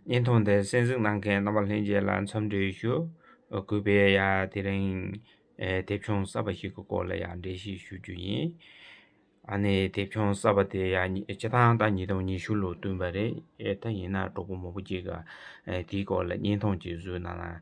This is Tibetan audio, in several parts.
བརྙན་ཐུང་འདི་གསན་གཟིགས་གནང་མཁན་རྣམ་པ་ལྷན་རྒྱས་ལ་འཚམས་འདྲི་ཞུ། གུས་པས་ཡ་དེ་རིང་དེབ་ཆུང་གསར་པ་ཞིག་གི་སྐོར་ལ་ཡ་འགྲེལ་བཤད་ཞུ་རྒྱུ་ཡིན། ཨ་ནི་དེབ་ཆུང་གསར་པ་དེ་ཡ་སྤྱི་ཐང་ད་ཉིས་སྟོང་ཉི་ཤུ་ལོར་བསྟུན་པ་རེད། ད་ཡིན་ན་གྲོགས་པོ་མོ་པོ་གཅིག་གིས་དེའི་སྐོར་ལ་བརྙན་ཐུང་གཅིག་བཟོས་གནང་ན་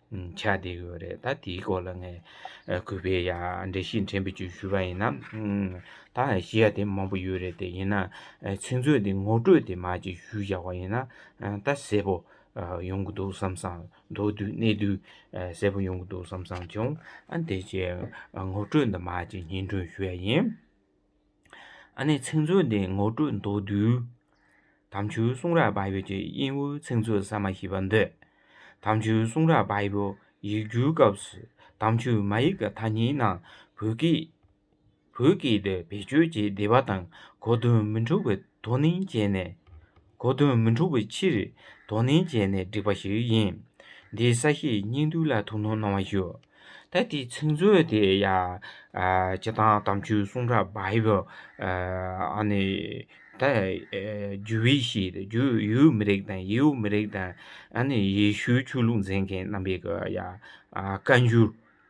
ཆ་དེ་ཡོད་རེད་ད་དེའི་སྐོར་ལ་ངས་གུས་པས་ཡ་འདྲི་ཞིག་དྲན་པའི་བརྗོད་ཞུ་བ་ཡིན་ན་ད་ཤེས་ཡ་དེ་མང་པོ་ཡོད་རེད་དེ་ཡིན་ན་ཚིག་མཛོད་འདི་ངོ་སྤྲོད་དེ་མ་ཅིག་ཞུས་བཞག་པ་ཡིན་ན་ད་གསལ་པོ་ཡོང་གི་འདུག་བསམ་སང་མདོར་བསྡུས་གནད་བསྡུས་གསལ་པོ་ཡོང་གི་འདུག་བསམ་སང་བྱུང་ཨ་འདི་ཅེས་ངོ་སྤྲོད་འདི་མ་ཅིག་སྙན་སྒྲོན་ཞུ་ཡ་ཡིན། ཨ་ནེ་ཚིག་མཛོད་འདི་ངོ་སྤྲོད་མདོར་བསྡུས། དམ་ཆོས་གསུང་རབ་བྷ་ཡོ་གྱི་དབྱིན་ཝུའི་ཚིག་མཛོད་གསར་མ་ཞིག་པར་འདོད། དམ་ཆོས་གསུང་རབ་བྷ་ཡོ་ཡིག་བསྒྱུར་སྐབས་སུ་དམ་ཆོས་མ་ཡིག་གི་ཐ་སྙད་རྣམས་བོད་སྐད་དུ་བེད་སྤྱོད་ཀྱིས་བསྡེབས་པ་དང་གོ་དོན་མི་འཁྲུགས་པའི་དོ་སྣང་བྱས་ནས། གོ་དོན་མི་འཁྲུགས་པའི་ཕྱིར། དོ་ནན་བྱས་ནས་བསྒྲིགས་པ་ཞིག་ཡིན། འདིའི་ས་བཤད་སྙིང་བསྡུས་ལ་ཐུགས་སྣང་གནང་བ་ཞུ། ད་ལྟའི་ཚིག་མཛོད་དེ་ཡང། སྤྱི་བཏང་དམ་ཆོས་གསུང་རབ Bible། རྒྱུད་བྷི་ཤཱི་དང་རྒྱུད་ཡུལ་མི་རིགས་དང་ཡེའུ་མི་རིགས་དང། ཡེ་ཤུའི་ཆོས་ལུགས་མཛད་མཁན་རྣམ་པའི་བཀའ་འགྱུར།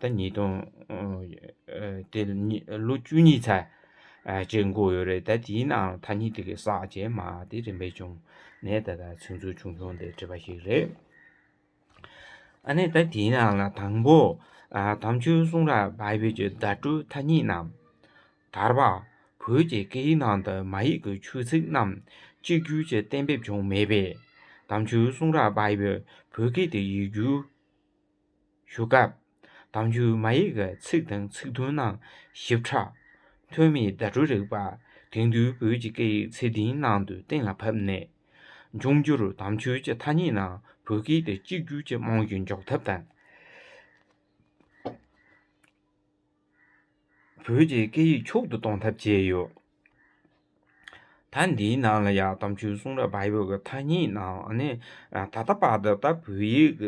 ཟླ་གཉིས་སྟོང། དེ་ལོ་བཅུ་གཉིས་ཚར་བཅད་འགོ་ཡོད་རེད་ད་དེའི་ནང་ཐ་སྙད་དེ་གའི་ཟག་བཅས་མ་དེ་རིམ་པས་བྱུང་ནས་ད་ལྟ་ཚིག་མཛོད་ཆུང་ཆུང་དེ་བྲིས་པ་ཞིག་རེད། ཨ་ནི་ད་དེའི་ནང་ལ་དང་པོ། དམ་ཆོས་གསུང་རབ Bible གྱི་བརྡ་སྤྲོད་ཐ་སྙད་རྣམས། དར་བ། བོད་ཀྱི་སྐད་ཡིག་ནང་དུ་མ་ཡིག་གི་ཆོས་ཚིག་རྣམས་གཅིག་གྱུར་གྱི་གཏན་འབེབས་བྱུང་མེད་པས། དམ་ཆོས་གསུང་རབ Bible བོད་སྐད་དུ་ཡིག་སྒྱུར། ཞུ་སྐབས། དང་རྒྱུད་མ་ཡིག་གི་ཚིག་དང་ཚིག་དོན་རྣམས་ཞིབ་ཕྲ། ཐོན་མིས་བརྡ་སྤྲོད་རིག་པ། དེང་དུས་བོད་ཀྱི་སྐད་ཡིག་ཚད་ལྡན་ནང་དུ་གཏན་ལ་ཕབ་ནས། འབྱུང་འགྱུར་དམ་ཆོས་ཀྱི་ཐ་སྙད་རྣམས་བོད་སྐད་དུ་གཅིག་གྱུར་གྱིས་རྨང་གཞི་འཇོག་ཐབས་དང། བོད་ཀྱི་སྐད་ཡིག་མཆོག་ཏུ་གཏོང་ཐབས་བྱས་ཡོད། ད་འདིའི་ནང་ལ་ཡང་དམ་ཆོས་གསུང་རབ་བར་ཡོད་ཀྱི་ཐ་སྙད་ནང་ནི་ད་ལྟ་བར་དུ་ད་བོད་ཡིག་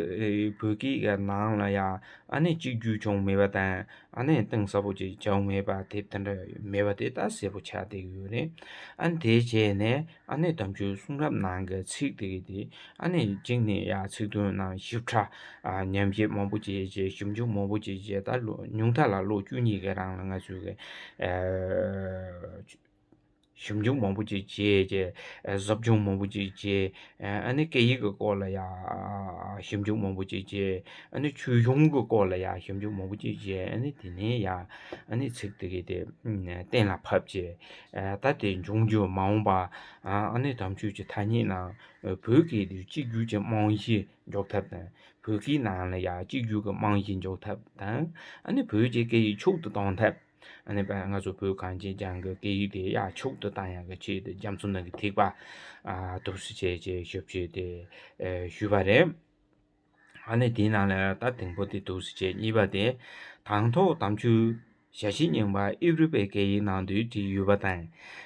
བོད་སྐད་ཀྱི་ནང་ལ་ཡང་གཅིག་གྱུར་བྱུང་མེད་པ་དང་གཏིང་ཟབ་པོ་ཅིག་བྱུང་མེད་པ་དེ་ལྟར་མེད་པ་དེ་ལྟར་གསལ་པོ་ཆགས་བསྡད་ཡོད་རེད། དེ་བྱས་ནས། ཨ་ནེ་དམ་ཆོས་གསུང་རབ་ནང་གི་ཚིག་དེ་གི་དེ་ཨ་ནེ་གཅིག་ནས་ཡ་ཚིག་དོན་རྣམས་ཞིབ་ཕྲ་ཉམས་བཞེས་མང་པོ་བྱས་རྗེས་ཞིབ་འཇུག་མང་པོ་བྱས་རྗེས་ད་ཉུང་མཐའ་ལ་ལོ་བཅུ་གཉིས་ཀྱི་རང་ལ་ང་ཚོས་གི་ཞིབ་འཇུག་མང་པོ་བྱས་རྗེས་ཟབ་སྦྱོང་མང་པོ་བྱས་རྗེས་ཨ་ནེ་སྐད་ཡིག་གི་སྐོར་ལ་ཡ་ཞིབ་འཇུག་མང་པོ་བྱས་རྗེས་ཨ་ནེ་ཆོས་གཞུང་གི་སྐོར་ལ་ཡ་ཞིབ་འཇུག་མང་པོ་བྱས་རྗེས་ཨ་ནེ་དེ་ནས་ཡ་ཨ་ནེ་ཚིག་དེ་གི་དེ་གཏན་ལ་ཕབ་རྗེས། ད་ལྟའི་འབྱུང་འགྱུར་མ་འོངས་པ་ཨ་ནེ་དམ་ཆོས་ཀྱི་ཐ་སྙད་ནང་བོད་སྐད་དུ་གཅིག་གྱུར་གྱི་རྨང་གཞི་འཇོག་ཐབས་དང་བོད་སྐད་ནང་ལ་ཡང་གཅིག་གྱུར་གྱི་རྨང་གཞི་འཇོག་ཐབས་དང་ཨ་ནེ་བོད་ཀྱི་སྐད་ཡིག་ཕྱུག་ཏུ་གཏོང་ཐབས་ཨ་ནེ་པ་ང་ཚོ་བོད་གངས་ཅན་ལྗང་གི་སྐད་ཡིག་དེ་ཡང་ཕྱུག་ཏུ་གཏང་ཡག་གི་ཆེད་དུ་རྒྱ་མཚོ་ནང་གི་ཐིགས་པ་གཏུབས་སུ་བྱེད་ཅེས་ཞིབ་བཤེར་དེ་ཞུས་པ་རེད། ཨ་ནི་དེའི་ནང་ལ་ཡང་རྟ་དེང་པོ་དེ་འདུག་ཟེར་བྱས་གཉིས་པ་དེ། དང་ཐོག་དམ་ཆུ། ཞྭ་བཞི་རྙིང་པ་ཨེབ་རི་པའི་སྐད་ཡིག་ནང་དུ་བྲིས་ཡོད་པ་དང།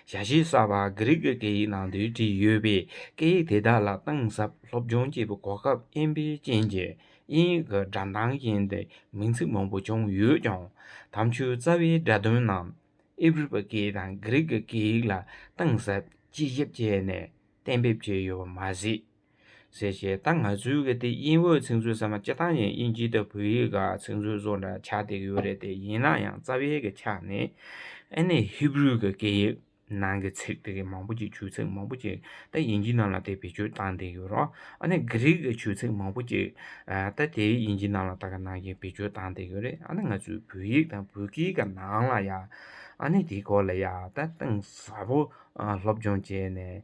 ཞྭ་བཞི་གསར་པ་གྷི་རིག་གི་སྐད་ཡིག་ནང་དུ་བྲིས་ཡོད་པས་སྐད་ཡིག་དེ་དག་ལ་གཏིང་ཟབ་སློབ་སྦྱོང་བྱེད་པའི་གོ་སྐབས་དབྱིན་ཕའི་རྐྱེན་གྱིས་དབྱིན་ཡིག་གི་སྒྲ་མདངས་བཞིན་དུ་མིང་ཚིག་མང་པོ་བྱུང་ཡོད་ཀྱང། དམ་ཆུའི་རྩ་བའི་སྒྲ་དོན་རྣམས་ཨེབ་རི་པ་སྐད་དང་གྷི་རིག་གི་སྐད་ཡིག་ལ་གཏིང་ཟབ་དཔྱད་ཞིབ་བྱས་ནས་གཏན་འབེབས་བྱས་ཡོད་པ་མ་ཟད། ཟེར་ཞེས་ད་ང་ཚོའི་གི་དེ་དབྱིན་འོད་ཚིག་མཛོད་ས་མ་སྐྱེ་ཐང་ཡན་དབྱིན་ཇི་དང་བོད་ཡིག་ག་ཚིག་མཛོད་སོགས་འདྲ་ཆགས་བསྡད་ཀྱི་ཡོད་རེད་དེ་ཡིན་ན་ཡང་རྩ་བའི་གི་ཆ་ནས་ཨེ་ནས་ཧི་བུ་རུའི་གི་སྐད་ཡིག་ནང་གི་ཚིག་དེ་གི་མང་པོ་ཅིག་ཆུ་ཚིག་མང་པོ་ཅིག་ད་དབྱིན་ཇི་ནང་ལ་དེ་བེད་སྤྱོད་བཏང་བསྡད་ཡོད་རོ་ཨ་ནས་གི་རིག་གི་ཆུ་ཚིག་མང་པོ་ཅིག་ད་དེ་དབྱིན་ཇི་ནང་ལ་ད་ག་ནང་གི་བེད་སྤྱོད་བཏང་བསྡད་ཡོད་རེད་ཨ་ནས་ང་ཚོའི་བོད་ཡིག་དང་བོད་སྐད་ག་ནང་ལ་ཡང་ཨ་ནས་དེ་སྐོར་ལ་ཡང་ད་གཏིང་ཟབ་པོ་སློབ་སྦྱོང་བྱས་ནས།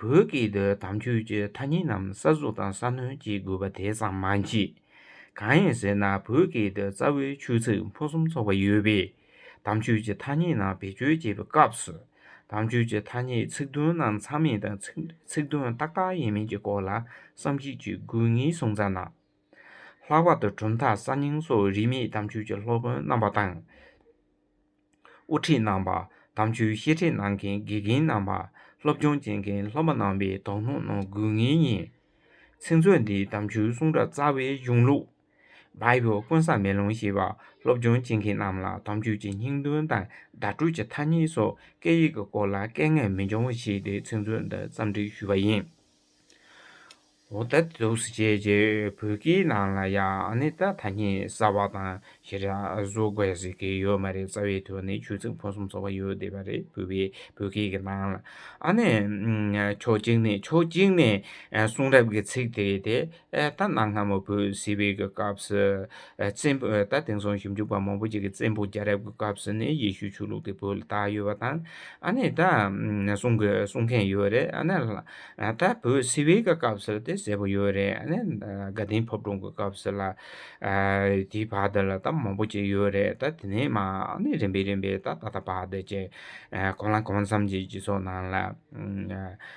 བོད་སྐད་དུ་དམ་ཆོས་ཀྱི་ཐ་སྙད་རྣམས་གསར་བཟོ་དང་གསར་སྣོན་བྱེད་དགོས་པ་དེ་ཙམ་མ་མཆིས། གང་ཡིན་ཟེར་ན་བོད་སྐད་དུ་རྩ་བའི་ཆོས་ཚིག་ཕུན་སུམ་ཚོགས་པ་ཡོད་པས། དམ་ཆོས་ཀྱི་ཐ་སྙད་རྣམས་བེད་སྤྱོད་བྱེད་པའི་སྐབས་སུ། དམ་ཆོས་ཀྱི་ཐ་སྙད་ཚིག་དོན་རྣམས་མཚམས་མེད་དང་ཚིག་དོན་ཏག་ཏག་ཡིན་མིན་གྱི་སྐོར་ལ་བསམ་གཞིགས་བྱེད་དགོས་ངེས་གསུངས་ཙམ་ན། ལྷག་པར་དུ་གྲུབ་མཐའ་གསར་རྙིང་སོགས་རིས་མེད་དམ་ཆོས་ཀྱི་སློབ་དཔོན་རྣམ་པ་དང། དབུ་ཁྲིད་རྣམ་པ། དམ་ཆོས་བཤད་ཁྲིད་གནང་མཁན་དགེ་རྒན་རྣམ་པ། སློབ་སྦྱོང་བྱེད་མཁན་སློབ་མ་རྣམ་པའི་དོ་སྣང་གནང་དགོས་ངེས་ཡིན། ཚིག་མཛོད་འདི་དམ་ཆོས་གསུང་སྒྲ་རྩ་བའི་གཞུང་ལུགས། Bible། ཀུན་བཟང་མེ་ལོང་ཞེས་པ་སློབ་སྦྱོང་བྱེད་མཁན་རྣམས་ལ་དམ་ཆོས་ཀྱི་སྙིང་དོན་དང་བརྡ་སྤྲོད་ཀྱི་ཐ་སྙད་སོགས་སྐད་ཡིག་གི་སྐོར་ལ་སྐད་ངན་མི་འབྱུང་བ་བྱས་ཏེ་ཚིག་མཛོད་འདི་བརྩམས་སྒྲིག་ཞུས་པ་ཡིན། འོ་ད་དེ་ཟུག་བྱས་རྗེས་བོད་ཀྱི་ནང་ལ་ཡང་ནི་ད་ཐ་སྙད་གསར་བ་དང་ཞེ་དྲག་ཟུག་པ་ཟེར་གི་ཡོད་མ་རེད་རྩ་བའི་དོན་ནི་ཆོས་ཚིག་ཕུན་སུམ་ཚོགས་པ་ཡོད་བསྡད་པ་རེད་བོད་པའི་བོད་སྐད་ཀྱི་ནང་ལ་ཨ་ནི། ཕྱོགས་གཅིག་ནས་ཕྱོགས་གཅིག་ནས་གསུང་རབ་ཀྱི་ཚིག་དེ་དེ། ད་གནའ་སྔ་མོ་བོད་སིལ་བུའི་སྐབས་སུ། བཙན་པོ། ད་དེང་སང་ཞིབ་འཇུག་པ་མང་པོ་ཞིག་གིས་བཙན་པོ་རྒྱལ་རབས་ཀྱི་སྐབས་སུ་ནི་ཡེ་ཤུའི་ཆོས་ལུགས་དེ་བོད་ལ་དར་ཡོད་པ་དང། ཨ་ནི་ད་གསུང་གི་གསུང་མཁན་ཡོད་རེད་ཨ་ནི། ད་བོད་སིལ་བུའི་སྐབས་སུ་དེ་ཟེར་བ་ཡོད་རེད་ཨ་ནི། དགའ་ལྡན་ཕབ་སྒྲུང་གི་སྐབས་སུ་ལ། དེའི་བར་དེ་ལ་ད་མང་པོ་ཅིག་ཡོད་རེད་ད་དེ་ནས་མ་ནི་རིམ་པས་རིམ་པས་ད་ད་ལྟ་བར་དེ་ཅི། གང་ལ་གང་འཚམ་གྱི་སྤྱི་ཚོགས་ནང་ལ།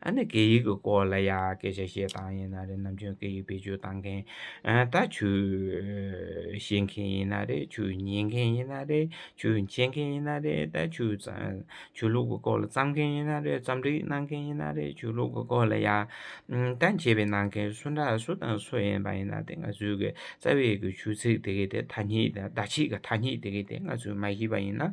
ཨ་ནི་སྐད་ཡིག་གི་སྐོར་ལ་ཡང་སྐད་ཆ་བཤད་སྟངས་ཡིན་ན་རེད་ནམ་ཆུང་སྐད་ཡིག་བེད་སྤྱོད་བཏང་མཁན་ད་ཆུ་བཤད་མཁན་ཡིན་ན་རེད་ཆུ་ཉན་མཁན་ཡིན་ན་རེད་ཆུ་འཆད་མཁན་ཡིན་ན་རེད་ད་ཆུ་ཆུ་ལུག་གི་སྐོར་ལ་བརྩམས་མཁན་ཡིན་ན་རེད་བརྩམས་སྒྲིག་གནང་མཁན་ཡིན་ན་རེད་ཆུ་ལུག་གི་སྐོར་ལ་ཡང་ད་འཆད་སྤེལ་གནང་མཁན་སུ་འདྲ་སུ་དང་སུ་ཡིན་པ་ཡིན་ན་དེ་ང་ཚོའི་གི་རྩ་བའི་གི་ཆུ་ཚིག་དེ་གའི་དེ་ཐ་སྙིད་ད་ཆིག་གི་ཐ་སྙིད་དེ་གའི་དེ་ང་ཚོས་མ་ཤེས་པ་ཡིན་ན་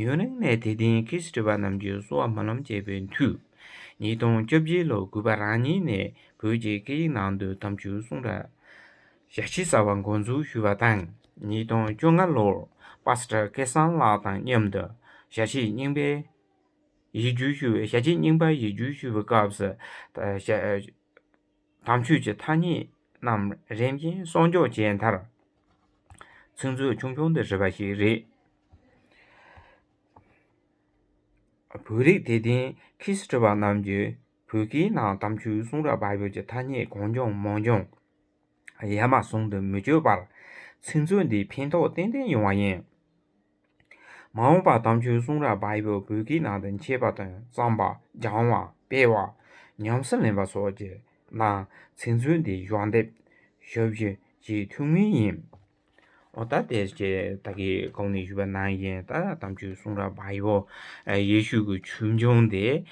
ཡུན་རིང་ནས་དེ་ལྡན་ཁི་སི་ཀྲི་པ་རྣམས་ཀྱི་གསོ་བ་མ་ལམ་སྐྱེས་པའི་མཐུས། ཉིས་སྟོང་བཅོ་བརྒྱད་ལོ་དགུ་པ་རང་ཉིད་ནས་བོད་ཀྱི་སྐད་ཡིག་ནང་དུ་གཏམ་རྒྱུད་གསུང་ར་ཞལ་ཕྱེ་གསར་བ་འགོ་འཛུགས་ཞུས་པ་དང་ཉིས་སྟོང་བཅོ་ལྔ་ལོར་པཱས་ཀྲ་སྐལ་བཟང་ལགས་དང་མཉམ་དུ་ཞལ་ཕྱེ་རྙིང་པའི་ཡིག་སྒྱུར་ཞུ་བཞལ་ཕྱེ་རྙིང་པ་ཡིག་སྒྱུར་ཞུ་བའི་སྐབས་སུ། དམ་ཆོས་ཀྱི་ཐ་སྙད་རྣམས་རིམ་བཞིན་གསོག་འཇོག་བྱས་མཐར། ཚིག་མཛོད་ཆུང་ཆུང་དུ་བྲིས་པ་ཞིག་རེད། བོད་རིགས་དད་ལྡན་ཁི་སི་ཀྲི་བ་རྣམས་ཀྱིས་བོད་སྐད་ནང་དམ་ཆོས་གསུང་རབ་བར་བརྒལ་གྱི་ཐ་སྙད་གང་བྱུང་མང་བྱུང་ཡ་མ་ཟུང་དུ་མི་བཅོས་པར། ཚིག་མཛོད་འདི་ཕན་ཐོགས་ཏན་ཏན་ཡོང་བ་ཡིན། མ་འོངས་པར་དམ་ཆོས་གསུང་རབ་བ་ཡི་བོད་ཀྱི་ནང་དུ་མཆེད་པ་དང་བརྩམས་པ་སྦྱང་བ་སྤེལ་བ་ཉམས་སུ་ལེན་པ་སོགས་ཀྱི་ནང་ཚིག་མཛོད་འདི་གཞོགས་འདེབས་ཞུ་རྒྱུ་ཅི་ཐུགས་མིན་ཡིན། འོ་ད་དེ་ཀྱི་ད་གི་གོང་ནས་ཞུས་པ་ནང་བཞིན་ད་དམ་ཆོས་གསུང་རབ་བ་ཡི་བོ་ཡེ་ཤུ་གི་ཆོས་འབྱུང་འདི།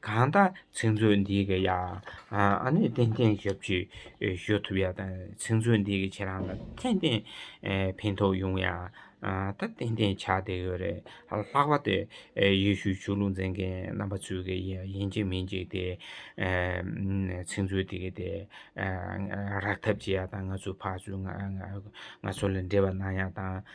གང་དག་ཚིག་མཛོད་འདི་གི་ཡང་ནི་ཏན་ཏན་ཞབས་ཀྱིས་གཞོལ་ཐུབ་ཡག་དང་ཚིག་མཛོད་འདི་གི་ཁྱེད་རང་ལ་ཏན་ཏན་ཕན་ཐོགས་ཡོང་ཡག་ད་ཏན་ཏན་ཆགས་བསྡད་ཡོད་རེད་ལྷག་པ་དེ་ཡེ་ཤུའི་ཆོས་ལུགས་མཛད་མཁན་རྣམ་པ་ཚོས་གི་ཡིན་གཅིག་མིན་གཅིག་དེ་ཚིག་མཛོད་འདི་གི་དེ་རག་ཐབས་བྱེད་ཡག་དང་ང་ཚོའི་ཕ་ཚོས་ང་ཚོ་ལ་འབྲེལ་བ་གནང་ཡག་དང།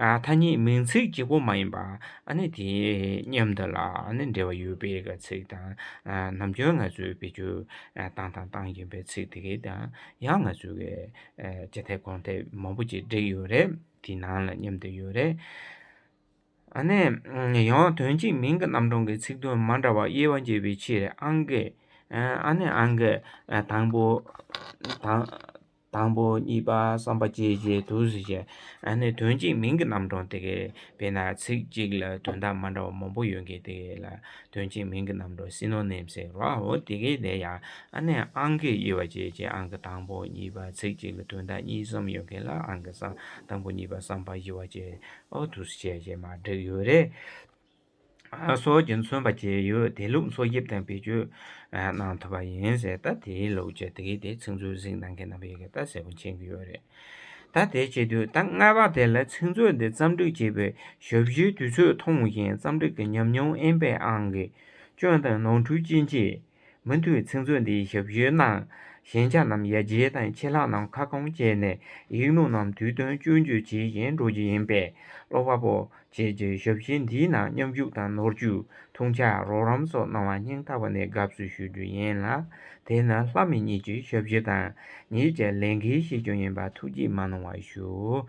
ཐ་སྙད་མིང་ཚིག་གི་སྒོ་མ་ཡིན་པ། དེ་མཉམ་དུ་ལ་འབྲེལ་བ་ཡོད་པའི་ཚིག་དང། ནམ་རྒྱུན་ང་ཚོས་བེད་སྤྱོད་བཏང་དང་བཏང་བཞིན་པའི་ཚིག་དེ་གའི་དང་ཡང་ང་ཚོས་བའི་སྤྱི་ཐེབས་གོང་ཐེབས་མང་པོ་ཅིག་བསྒྲིགས་ཡོད་རེད། དེ་ནང་ལ་མཉམ་དུ་ཡོད་རེད། ཡང་དོན་གཅིག་མིང་གི་རྣམ་གྲངས་ཀྱི་ཚིག་དོན་མ་འདྲ་བར་དབྱེ་བ་འབྱེད་པའི་ཕྱིར་ཨང་ཀི། དང་པོ། དང་པོ་གཉིས་པ་བསམ་པ་སྐྱེས་རྗེས་དུ་ཟེར་བྱ་ཨ་ནི་དོན་གཅིག་མིང་གི་རྣམ་གྲངས་དེ་གས་དཔེར་ན་ཚིག་གཅིག་ལ་དོན་དག་མ་འདྲ་བ་མང་པོ་ཡོད་གི་དེ་གས་ལ་དོན་གཅིག་མིང་གི་རྣམ་གྲངས་སིནོ་ནིམ་ཟེར་རོ་ཨོ་དེ་གས་དེ་ཡང་ཨ་ནི་ཨང་ཀི་དབྱེ་བ་སྐྱེས་རྗེས་ཨང་ཀི་དང་པོ་གཉིས་པ་ཚིག་གཅིག་ལ་དོན་དག་གཉིས་གསུམ་ཡོད་གི་ལ་ཨང་ཀི་བསམ་དང་པོ་གཉིས་པ་བསམ་པ་བཞི་བ་སྐྱེས་ཨོ་དུ་ཟེར་བྱ་ཞེས་མ་བསྒྲིགས་ཡོད་རེད། སོགས་ཀྱིས་མཚོན་པ་བཅས་ཡོད་དེ་ལུགས་འཚོལ་དབྱིབས་དང་བེད་སྤྱོད་གནང་ཐུབ་པ་ཡིན་ཟེར་ད་དེའི་ལུགས་ཀྱི་དེ་གའི་དེ་ཚིག་མཛོད་གཟིགས་གནང་མཁན་རྣམ་པས་ཡི་གེ་ལྟ་གསལ་པོ་མཁྱེན་གྱི་ཡོད་རེད། ད་དེ་བྱེད་དུས་ད་སྔ་བར་དེ་ལ་ཚིག་མཛོད་འདི་བརྩམས་སྒྲིག་བྱེད་པའི་ཞབས་ཞུའི་དུས་ཚོད་ཐུང་ཞིང་བརྩམས་སྒྲིག་གི་ཉམས་མྱོང་ཨེན་པའི་ཨང་ཀི་སྐྱོན་དང་ནོར་འཁྲུལ་ཅི་མཆིས། མུ་མཐུད་ཚིག་མཛོད་འདིའི་ཞབས་ཞུའི་ནང་ཞན་ཆ་རྣམས་ཡར་རྒྱས་དང་ཆད་ལྷག་རྣམས་ཁ་སྐོང་བྱས་ནས་ཡིག་ནོར་རྣམས་དུས་བསྟུན་སྐྱོན་བརྗོད་བྱེད་བཞིན་འགྲོ་རྒྱུ་ཡིན་པས་ཀློག་པ་པོ་བཅས་ཀྱིས་ཞབས་ཞུ་འདིའི་ནང་མཉམ་ཞུགས་དང་ནོར་བཅོས་ཐུགས་འཕྱག་རོགས་རམ་སོགས་གནང་བ་སྙིང་ཐག་པ་ནས་དགའ་བསུ་ཞུ་རྒྱུ་ཡིན་ལ་དེ་ནི་ལྷ་མི་གཉིས་ཀྱི་ཞབས་ཞུ་དང་ངེད་ཀྱི་ལས་འགན་ཤེས་རྒྱུ་ཡིན་པ་ཐུགས་རྗེས་མ་གནང་བ་ཞུ།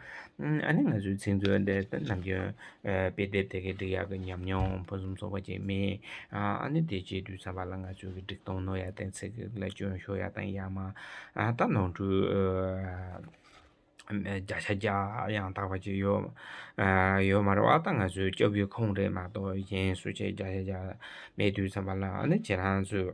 ཨ་ནི་ང་ཚོའི་ཚིག་མཛོད་འདི་ནམ་རྒྱུན་དཔེ་དེབ་དེ་གའི་འབྲི་གཡག་གི་ཉམས་མྱོང་ཕུན་སུམ་ཚོགས་པ་ཅན་རྨིས། ཨ་ནི་དེ་རྗེས་དུས་མཚམས་པར་ལ་ང་ཚོས་གི་སྒྲིག་གཏོང་རྣོ་ཡ་དང་ཚིག་གི་ལ་སྐྱོན་ཤོར་ཡ་དང་ཡང་མང་དག་ནོར་འཁྲུལ་བརྒྱ་ཆ་བརྒྱ་ཡང་དག་པ་ཅིག་ཡོད། ཡོད་མ་རེད་བ་ད་ང་ཚོས་སྐྱོབ་རྒྱུའི་ཁོངས་རེད་མ་གཏོགས་གཞན་སུ་བྱས་བརྒྱ་ཆ་བརྒྱ་མེད་དུས་མཚམས་པར་ལ་ཨ་ནི་ཁྱེད་རང་ཚོས།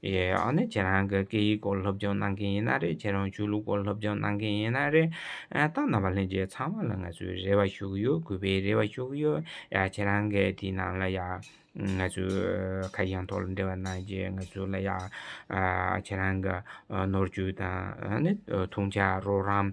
ཡེ་འོ་ནི་ཁྱེད་རང་གི་སྐད་ཡིག་སྐོར་སློབ་སྦྱོང་གནང་མཁན་ཡིན་ན་རེད་ཁྱེད་རང་ཆོས་ལུགས་སྐོར་སློབ་སྦྱོང་གནང་མཁན་ཡིན་ན་རེད། ད་ནང་པ་ལྷན་རྒྱས་ཚང་མ་ལ་ང་ཚོས་རེ་བ་ཞུ་གི་ཡོད་གུས་པས་རེ་བ་ཞུ་གི་ཡོད་ཡ་ཁྱེད་རང་གི་དེའི་ནང་ལ་ཡ། ང་ཚོས་ཁ་གཞང་ཐོག་ལ་འབྲེལ་བ་གནང་རྗེས་ང་ཚོ་ལ་ཡ། ཁྱེད་རང་གི་ནོར་འཁྲུལ་དང་ནི་ཐུགས་འཕྱ་རོགས་རམ།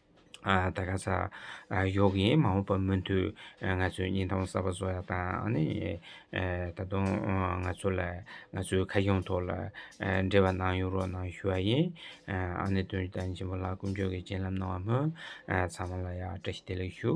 ད་ག་ས་ཡོག་གིས་མ་འོངས་པར་མུ་མཐུད་ང་ཚོའི་སྙིང་ཐང་གསར་པ་བཟོ་ཡག་དང་ད་དུང་ང་ཚོ་ལ་ང་ཚོའི་ཁ་སྐྱོང་ཐོག་ལ་འབྲེལ་བ་གནང་ཡོང་རོགས་གནང་ཞུ་བ་ཡིན། ཨ་ནེ་དོན་ལྡན་ཆེན་པོ་ལགས་ཀུན་སྤྱོད་ཀྱི་སྤྱན་ལམ་གནང་བ་སྨོན། ཚང་མ་ལ་ཡང་བཀྲ་ཤིས་བདེ་ལེགས་ཞུ།